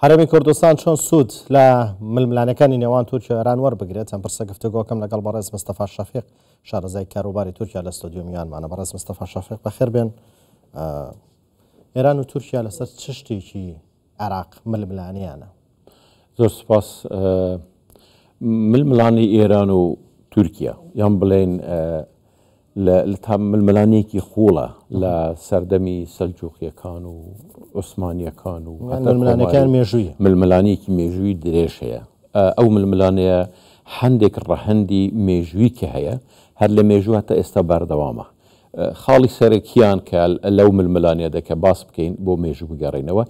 هەرێمی کوردستان چۆن سوود لە ململانەکانی نێوان تورکیا و ئێران وەربگرێت چەند پرسە گفتوگۆکەم لەگەڵ بەڕێز مستەفا شەفیق شارەزای کاروباری تورکیا لە ستۆدیۆ میوانمانە بەڕێز مستەفا شەفیق بەخێر بێن ئێران و تورکیا لەسەر چ شتێکی عێراق ململانیانە زۆر سپاس ململانی ئێران و تورکیا یان بڵێن لە تا ململانێیەکی قووڵە لە سەردەمی سەلجووقییەکان و عوسمانییەکان و یان هەتا ململانێکان کۆماری مێژوویە ململانێیەکی مێژووی درێژ هەیە. ئە ئەو ململانێیە هەندێک ڕەهەندی مێژوویی هەیە، هەر لە مێژوو هەتا ئێستا بەردەوامە. ئە خاڵی سەرەکییان کە لەو ململانێیەدا کە باس بکەین بۆ مێژوو بگەڕێینەوە،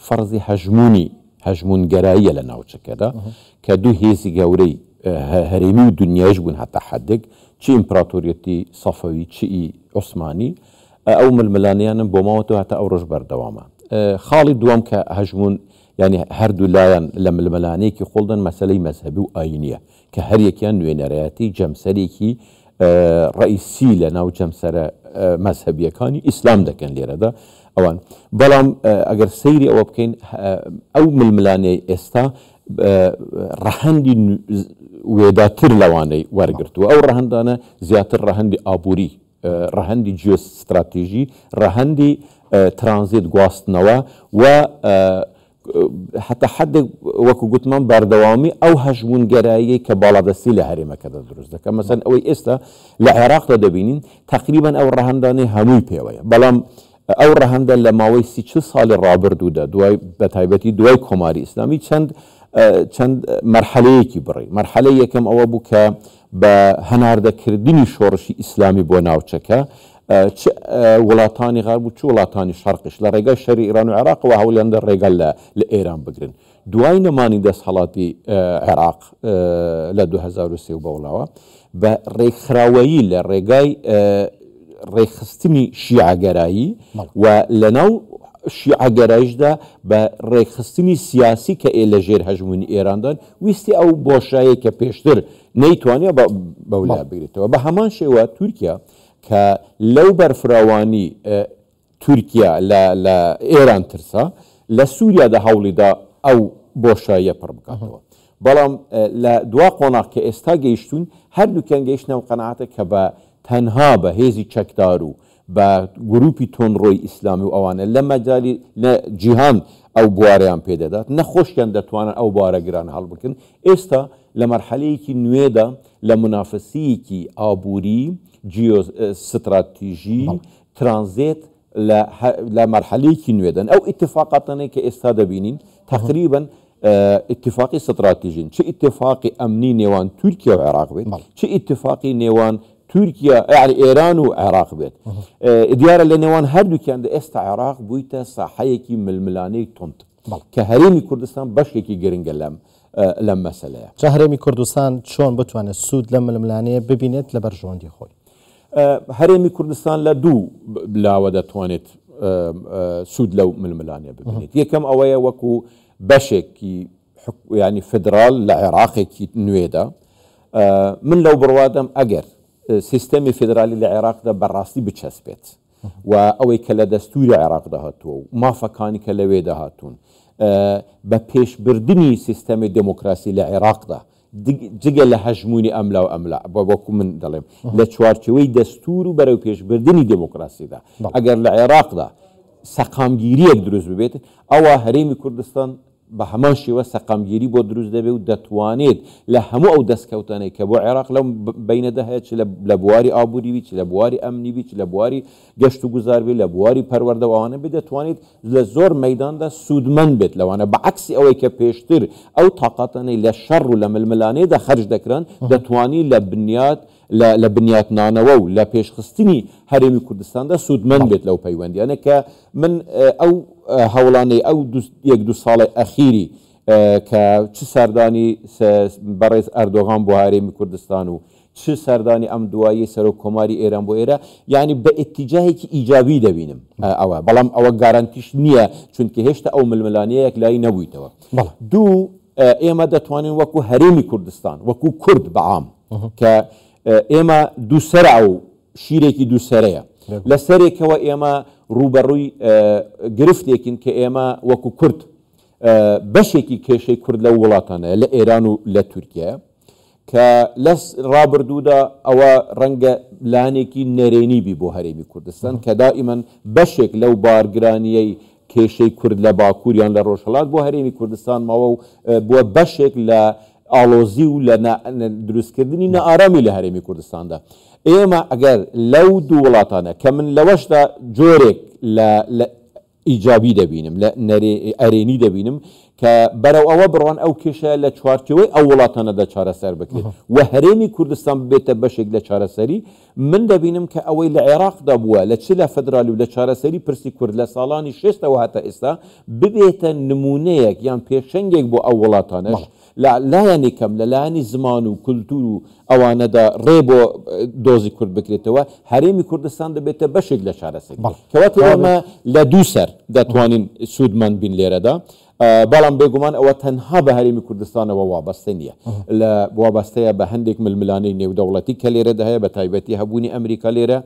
فەرزی هەژموونی هەژموونگەراییە لە ناوچەکەدا کە دوو هێزی گەورەی هەرێمی و دونیاییش بوون هەتا حەدێک، چ ئیمپراتۆریەتی سەفەوی چ ی عوسمانی، ئەو ململانێیانە بۆ ماوەتەوە هەتا ئەوڕۆش بەردەوامە. خاڵی دووەم کە هەژموون یانی هەردوو لایان لە ململانێیەکی قووڵدان مەسەلەی مەزهەبی و ئایینییە کە هەریەکیان نوێنەرایەتی جەمسەرێکی ڕەئیسی لەناو جەمسەرە مەزهەبیەکانی ئیسلام دەکەن لێرەدا ئەوان بەڵام ئەگەر سەیری ئەوە بکەین ئەو ململانەی ئێستا ڕەهەندی وێداتر لەوانەی وەرگرتووە ئەو ڕەهندانە زیاتر ڕەهندی ئابووری ڕەهندی جیۆستراتیژی ڕەهندی ترانزیت گواستنەوە و هەتا حەدێک وەکو گوتمان بەردەوامی ئەو هەژموونگەراییەی کە باڵادەستی لە هەرێمەکەدا دروست دەکەن مەسەن ئەوەی ئێستا لە عێراقدا دەبینین تەقریبان ئەو ڕەهەندانەی هەمووی پێوەیە بەڵام ئەو ڕەهەندە لە ماوەی سی چل ساڵی ڕابردوودا دوای بە تایبەتی دوای کۆماری ئیسلامی چەند چەند مەرحەلەیەکی بڕی مەرحەلە یەکەم ئەوە بوو کە بە هەناردەکردنی شۆڕشی ئیسلامی بۆ ناوچەکە، چ وڵاتانی غەرب و چ وڵاتانی شەرقیش لە ڕێگای شەری ئێران و عێراقەوە هەوڵیاندا ڕێگە لە لە ئێران بگرن. دوای نەمانی دەستهەڵاتی عێراق لە دوو هەزار و سێ و بەولاوە بە ڕێکخراوەیی لە ڕێگای ڕێکخستنی شیعەگەرایی و لەناو شیعەگەرایشدا بە ڕێکخستنی سیاسی کە ئێ لە ژێر هەژموونی ئێراندان ویستی ئەو بۆشایەی کە پێشتر نەیتوانیا بەولا بگرێتەوە بە هەمان شێوە تورکیا کە لەو بەرفراوانی تورکیا لە ئێران ترسا لە سووریادا هەوڵیدا ئەو بۆشاییە پڕ بکاتەوە بەڵام لە دوا قۆناغ کە ئێستا گەیشتون هەردووکیان گەیشتنەوە قەنعاتە کە بە تەنها بە هێزی چەکدار و بە گروپی تۆنڕۆی ئیسلامی و ئەوانە لە مەجالی نە جیهان ئەو بوارەیان پێ دەدات نە خۆشیان دەتوانن ئەو بوارە گرانە هەڵبگرن ئێستا لە مەرحەلەیەکی نوێدا لە مونافەسەیەکی ئابووری جیۆ ستراتیژی بەڵێ ترانزێت لە هە لە مەرحەلەیەکی نوێدەن ئەو ئیتفاقاتانەی کە ئێستا دەبینین تەقریبەن ئیتیفاقی ستڕاتیژین چ ئیتیفاقی ئەمنی نێوان تورکیا و عێراق بێت چ ئیتیفاقی نێوان تورکیا یعنی ئێران و عێراق بێت دیارە لە نێوان هەردووکیان دە ئێستا عێراق بوویتە ساحەیەکی ململانەی تند کە هەرێمی کوردستان بەشێکی گرنگە لەم لەم مەسلەیە چهرێمی کوردستان چۆن بتوانێت سوود لە ململانەیە ببینێت لە بەرژەوەندی خۆی هەرێمی کوردستان لە دوو لاوە دەتوانێت سوود لەو ململانێ ببینێت یەکەم ئەوەیە وەکو بەشێکی ینی فدرال لە عێراقێکی نوێدا من لەو بڕوادەم ئەگەر سیستەمی فدرالی لە عێراقدا بەڕاستی بچەسپێت و ئەوەی کە لە دەستوری عێراقدا هاتووە و مافەکانی کە لەوێدا هاتوون بە پێشبردننی سیستەمی دموکراسی لە عێراقدا جگە لە هەژموونی ئەملا و ئەملا، وەکو من دەڵێم، لە چوارچێوەی دەستوور و بەرەوپێشبردنی دێموکراسیدا، ئەگەر لە عێراقدا سەقامگیرییەک دروست ببێت، ئەوا هەرێمی کوردستان بە هەمان شێوە سەقامگیری بۆ دروست دەبێت و دەتوانێت لە هەموو ئەو دەستکەوتانەی کە بۆ عێراق لەم بەینەدا هەیە، چ لە بواری ئابووری بیت، چ لە بواری ئەمنی بیت، چ لە بواری. گەشت و گوزار بێت، لە بواری پەروەردە و ئەوانە بێت، دەتوانێت لە زۆر مەیداندا سوودمەند بێت، لەوانە بە عەکسی ئەوەی کە پێشتر ئەو تاقاتانەی لە شەڕ و لە ململانێدا خەرج دەکران، دەتوانی لە بنیات لە لە بنیاتنانەوە و لە پێشخستنی هەرێمی کوردستاندا سوودمەند بێت لەو پەیوەندییانە کە من ئەو هەوڵانەی ئەو دوو یەک دوو ساڵەی ئەخیری کە چ سەردانی بەڕێز ئەردۆغان بۆ هەرێمی کوردستان و چ سەردانی ئەم دواییەی سەرۆک کۆماری ئێران بۆ ئێرە یانی بە ئیتیجاهێکی ئیجابی دەبینم ئەوە بەڵام ئەوە گارانتیش نییە چونکە هێشتا ئەو ململانێیە یەکلایی نەبوویتەوە دوو ئێمە دەتوانین وەکو هەرێمی کوردستان وەکو کورد بە عام کە ئێمە دووسرە ئەو شیرێکی دووسرەیە لە سەرێکەوە ئێمە ڕووبەڕووی گرفتێکین کە ئێمە وەکو کورد بەشێکی کێشەی کورد لە وڵاتانە لە ئێران و لە تورکیا کە لە ڕابردوودا ئەوە ڕەنگە لانێکی نەرێنی بی بۆ هەرێمی کوردستان کە دائیمەن بەشێک لەو بارگرانییەی کێشەی کورد لە باکوور یان لە ڕۆژهەڵات بۆ هەرێمی کوردستان ماوە و بووە بەشێک لە ئاڵۆزی و لە دروستکردنی نائارامی لە هەرێمی کوردستاندا ئێمە ئەگەر لەو دوو وڵاتانە کە من لەوەشدا جۆرێک لە ئیجابی دەبینم، لە نەرێ ئەرێنی دەبینم کە بەرەو ئەوە بڕۆن ئەو کێشە لە چوارچێوەی ئەو وڵاتانەدا چارەسەر بکرێت و هەرێمی کوردستان ببێتە بەشێک لە چارەسەری، من دەبینم کە ئەوەی لە عێراقدا بووە لە چ لە فدرالی و لە چارەسەری پرسی کورد لە ساڵانی شێستەوە هەتا ئێستا ببێتە نموونەیەک یان پێشەنگێک بۆ ئەو وڵاتانەش. لە لایەنی کەم لە لایەنی زمان و کولتوور و ئەوانەدا ڕێ بۆ دۆزی کورد بکرێتەوە، هەرێمی کوردستان دەبێتە بەشێک لە چارەسەری. بەڵێ. کەواتە کەواتە ئێمە لە دوو سەر دەتوانین سوودمەند بین لێرەدا، بەڵام بێگومان ئەوە تەنها بە هەرێمی کوردستانەوە وابەستە نییە، لە وابەستەیە بە هەندێک ململانێی نێودەوڵەتی کە لێرەدا هەیە، بەتایبەتی هەبوونی ئەمریکا لێرە،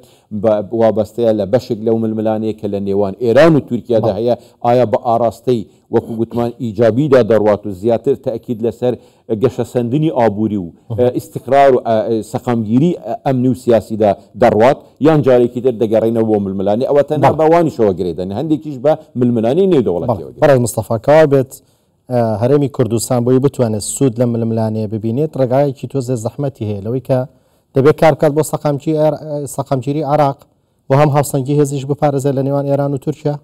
بە وابەستەیە لە بەشێک لەو ململانێیە کە لە نێوان ئێران و تورکیادا بەڵێ. هەیە، ئایا بە ئاڕاستەی وەکو گوتمان ئیجابیدا دەڕوات و زیاتر تەئکید لەسەر گەشەسەندنی ئابووری و ئیستیقرار و سەقامگیری ئەمنی و سیاسیدا دەڕوات، یان جارێکی تر دەگەڕێینەوە بۆ ململانێ، ئەوە تەنها بە ئەوانیشەوە گرێ دەنێ، هەندێکیش بە ململانێی نێودەوڵەتییەوە گرێ بەڕێز مستەفا، کەوا بێت هەرێمی کوردستان بۆی بتوانێت سوود لەم ململانێیە ببینێت، ڕێگایەکی تۆزێ زەحمەتی هەیە، لەوەی کە دەبێت کار بکات بۆ سەقامگیری عێراق و هەم هاوسەنگی هێزیش بپارێزێت لە نێوان ئێران و تورکیا؟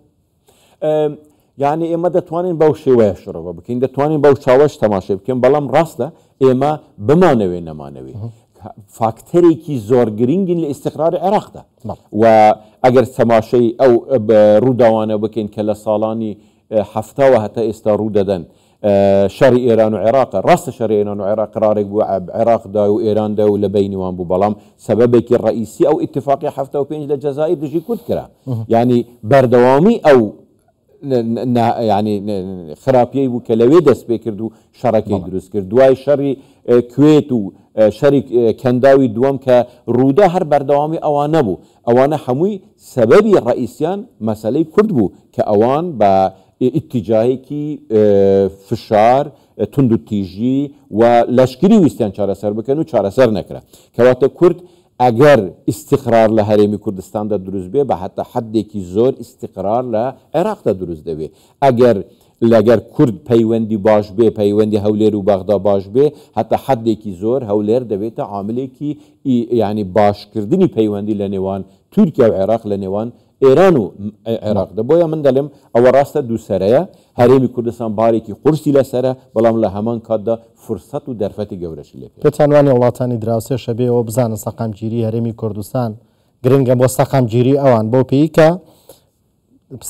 یانی ئێمە دەتوانین بەو شێوەیە شڕەوە بکەین دەتوانین بەو چاوەش تەماشای بکەین بەڵام ڕاستە ئێمە بمانەوێ نەمانەوێ فاکتەرێکی زۆر گرنگین لە ئیسیقرار عێراقدا و ئەگەر سەماشەی ئەو ڕووداوانە بکەین کە لە ساڵانی هەفتاوە هەتا ئێستا ڕوو دەدەن شەڕی ئێران و عێراقە. ڕاستە شەڕی ئێران و عێراق قەرارێک بوو عێراقدا و ئێراندا و لە بەینی وان بوو بەڵام سەبەبێکی ڕەئیسی ئەو ئیتفاقیە حەفتا و پێنج لە جەزائیر دژی کورد کرا. یانی بەردەوامی ئەو یانی خراپیەی بوو کە لەوێ دەست پێ کرد و شەڕەکەی دروست کرد دوای شەڕی کوێت و شەری کەنداوی دووەم کە ڕوودا هەر بەردەوامی ئەوان نەبوو ئەوانە هەمووی سەبەبی ڕئیسیان مەسلەی کورد بوو کە ئەوان بە ئیتیجاهێکی فشار توندوتیژی و لەشکری ویستیان چارەسەر بکەن و چارەسەر نەکرا کەواتە کورد ئەگەر ئیسیقرار لە هەرێمی کوردستاندا دروست بێ بە هەتا حدێکی زۆر ئیسیقرار لە عێراقدا دروست دەبێ ئەگەر لەگەر کورد پەیوەندی باش بێ پەیوەندی هەولێر و بەغدا باش بێ هەتا حدێکی زۆر هەولێر دەبێتە عاملێکی یعنی باشکردنی پەیوەندی لە نێوان تورکیا و عێراق لە نێوان ئێران و عێراق دە بۆیە من دەلێم ئەوە راستە دووسەرەیە هەرێمی کوردستان بارێکی قورسی لەسەرە بەڵام لە هەمان کاتدا فرسەت و دەرفەتی گەورەشی لێ پێ پێتان وانیە وڵاتانی دراوسێ شەبێ ئەوە بزانن سەقامگیری هەرێمی کوردستان گرنگە بۆ سەقامگیری ئەوان بەو پێی کە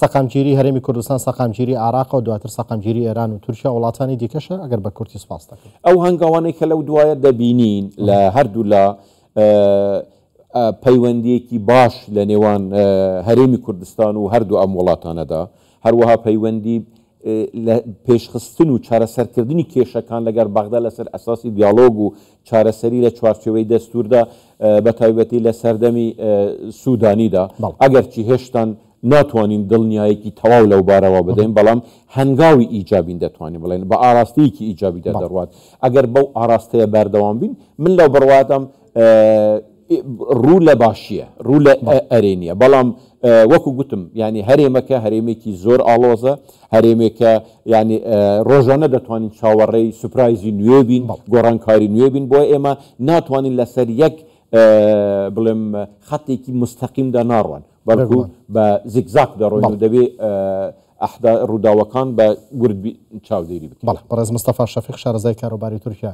سەقامگیری هەرێمی کوردستان سەقامگیری عراق و دواتر سەقامگیری ئێران و تورکیا وڵاتانی دیکەشە ئەگەر بە کورتی سپاس دەکەن ئەو هەنگاوانەی کە لەو دوایە دەبینین لە هەردوو لە پەیوەندییەکی باش لە نێوان هەرێمی کوردستان و هەردوو ئەم وڵاتانەدا، هەروەها پەیوەندی لە پێشخستن و چارەسەرکردنی کێشەکان لەگەر بەغدا لەسەر ئەساسی دیالۆگ و چارەسەری لە چوارچێوەی دەستووردا، بە تایبەتی لە سەردەمی سوودانیدا، بەڵێ. ئەگەرچی هێشتان ناتوانین دڵنیایەکی تەواو لەو بارەوە بدەین، بەڵام هەنگاوی ئیجابین دەتوانین بڵێین، بە ئاراستەیەکی ئیجابیدا دەڕوات. ئەگەر بەو ئاراستەیە بەردەوام بین، من لەو بڕوادام ڕوو لە باشییە، ڕوو لە ئەرێنییە، بەڵام وەکو گوتم یانی هەرێمەکە هەرێمێکی زۆر ئاڵۆزە، هەرێمێکە یانی ڕۆژانە دەتوانین چاوەڕێی سوپرایزی نوێ بین، گۆڕانکاری نوێ بین، بۆیە ئێمە ناتوانین لەسەر یەک بڵێم خەتێکی مستەقیمدا ناڕوات، بەڵکو بە زیکزاک دەڕۆین و دەبێ ڕووداوەکان بە وردبی چاودێری بکەین. بەڵێ، بەڕێز مستەفا شەفیق، شارەزای کاروباری تورکیا